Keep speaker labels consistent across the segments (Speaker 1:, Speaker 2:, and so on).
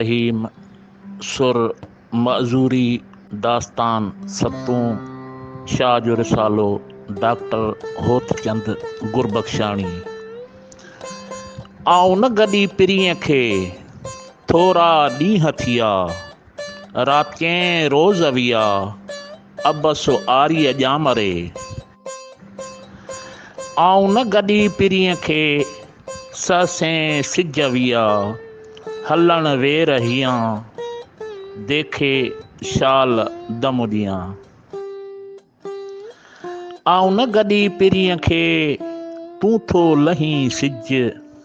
Speaker 1: رحيم، سر، معذوري، داستان، ستون، شاهه جو رسالو، ڊاڪٽر هوتچند گربخشاڻي. آئون نه گڏي پرينء کي، ٿورا ڏينهن ٿيا، راتين روز ويا، عبس آريء ڄام ري. آئون نه گڏي پرينء کي، سهسين سج ويا، هلڻ وير هيان، ديکي شال دم ڏيان. آئون نه گڏي پرينء کي، تون ٿو لهين سج.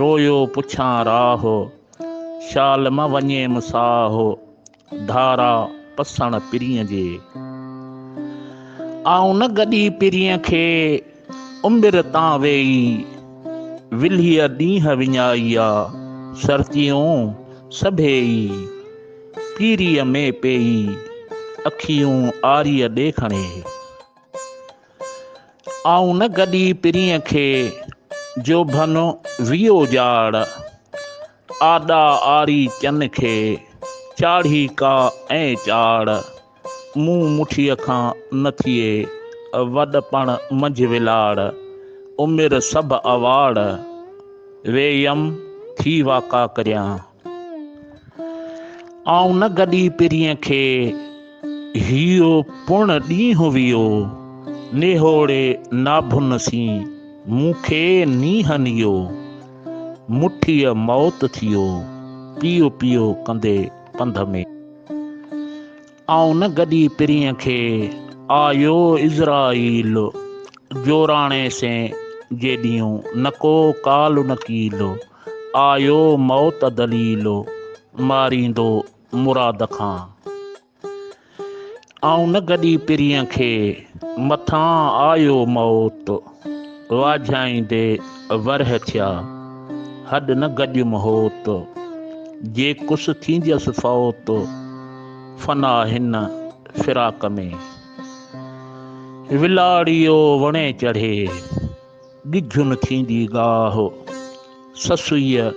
Speaker 1: رويو پڇان راھ، شال مان وڃيم ساھ، ڌارا پسڻ پرينء جي. آئون نه گڏي پرينء کي، امبر تان ويئي، ولھيء ڏينهن وڃائي آ، سرتيون سڀيئي، پيريء ۾ پيئي، اکيون آريء ڏي کڻي. آئون نه گڏي پرينء کي، جوڀن ويئي اجاڙ. آڏا آري چن کي، چاڙهي ڪا ائين چاڙ. مون مٺيء کان نه ٿئي، وڏپڻ منجهه ولاڙ. عمر سڀ اواڙ، ويئم ٿي واڪا ڪريان. آئون نه گڏي پرينء کي، هيء پڻ ڏينهن ويو، نهوڙي ناڀن سين، مون کي نينهن نيو، مٺيء موت ٿيو، پيو پيو ڪندي پنڌ ۾. آئون نه گڏي پرينء کي، آيو عزرائيل، جوراڻي سين جيڏيون، نڪو ڪال نڪيل، آيو موت دليل ماريندو مراد کان. آئون نه گڏي پرينء کي مٿان آيو موت واجهائيندي ورهه ٿيا هڏ نه گڏيم هوت جي ڪس ٿينديس فوت فنا هن فراق ۾. ولاڙيو وڻي چڙهي. ڳجهه نه ٿيندي ڳاهه، سسئيء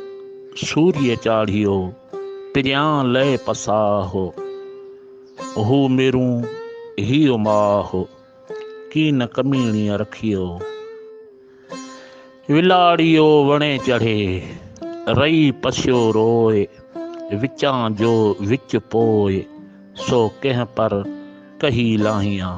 Speaker 1: سوريء چاڙهيو، پريان لئي پساهه. هو ميرون هيء ماهه، ڪين ڪميڻيء رکيو. ولاڙيو وڻي چڙهي، رئي پسيو روء، وچان جو وچ پوء، سو ڪنهن پر ڪهي لاهيان.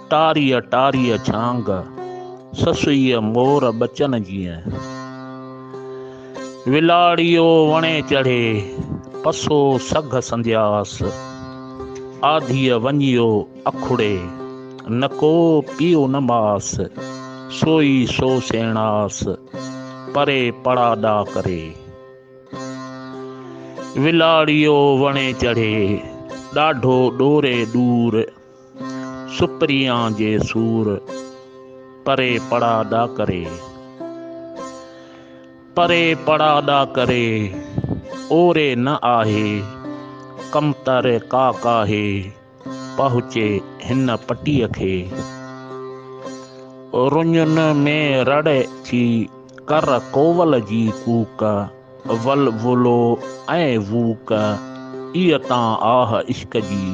Speaker 1: ٽاريء ٽاريء جھانگ، سسئيء مور ٻچن جيئن. ولاڙيو وڻي چڙهي، پسو سگهه سندياس. آڌيء وڃيو اکڙي، نڪو پيو نه ماس. سوئي سو سيڻاس، پري پڙاڏا ڪري. ولاڙيو وڻي چڙهي، ڏاڍو ڏوري ڏور. سپريان جي سور پري پڙا ڏا ڪري. پري پڙا ڏا ڪري اوري نه آهي ڪمتر ڪا ڪاهي پهچي هن پٽيء کي. رڃن ۾ رڙ ٿي ڪر ڪوول جي ڪوڪ. ول ولو ۽ ووڪ اي تان آھ عشق جي.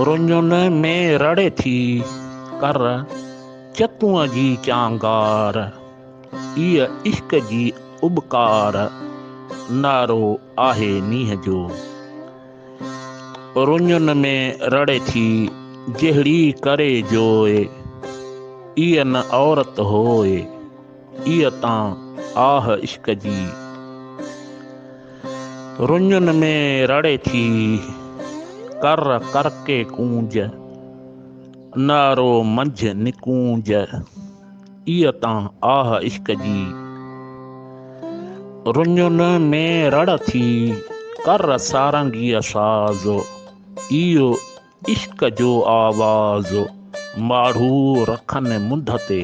Speaker 1: رڃن ۾ رڙي ٿي ڪر چتون جي چانگار. اي عشق جي اٻڪار نعرو آھي مينهن جو. رڃن ۾ رڙي ٿي جهڙي ڪري جوء. اي نه عورت هوء. اي اتان آھ عشق جي رڃن ۾ رڙي ٿي ڪر ڪر ڪي ڪونج نارو منجھ نڪونج اي اتان آھ عشق جي رڃن ۾ رڙ ٿي ڪر سارنگيء ساز ايو عشق جو آواز ماڙھو رکن منڌ تي.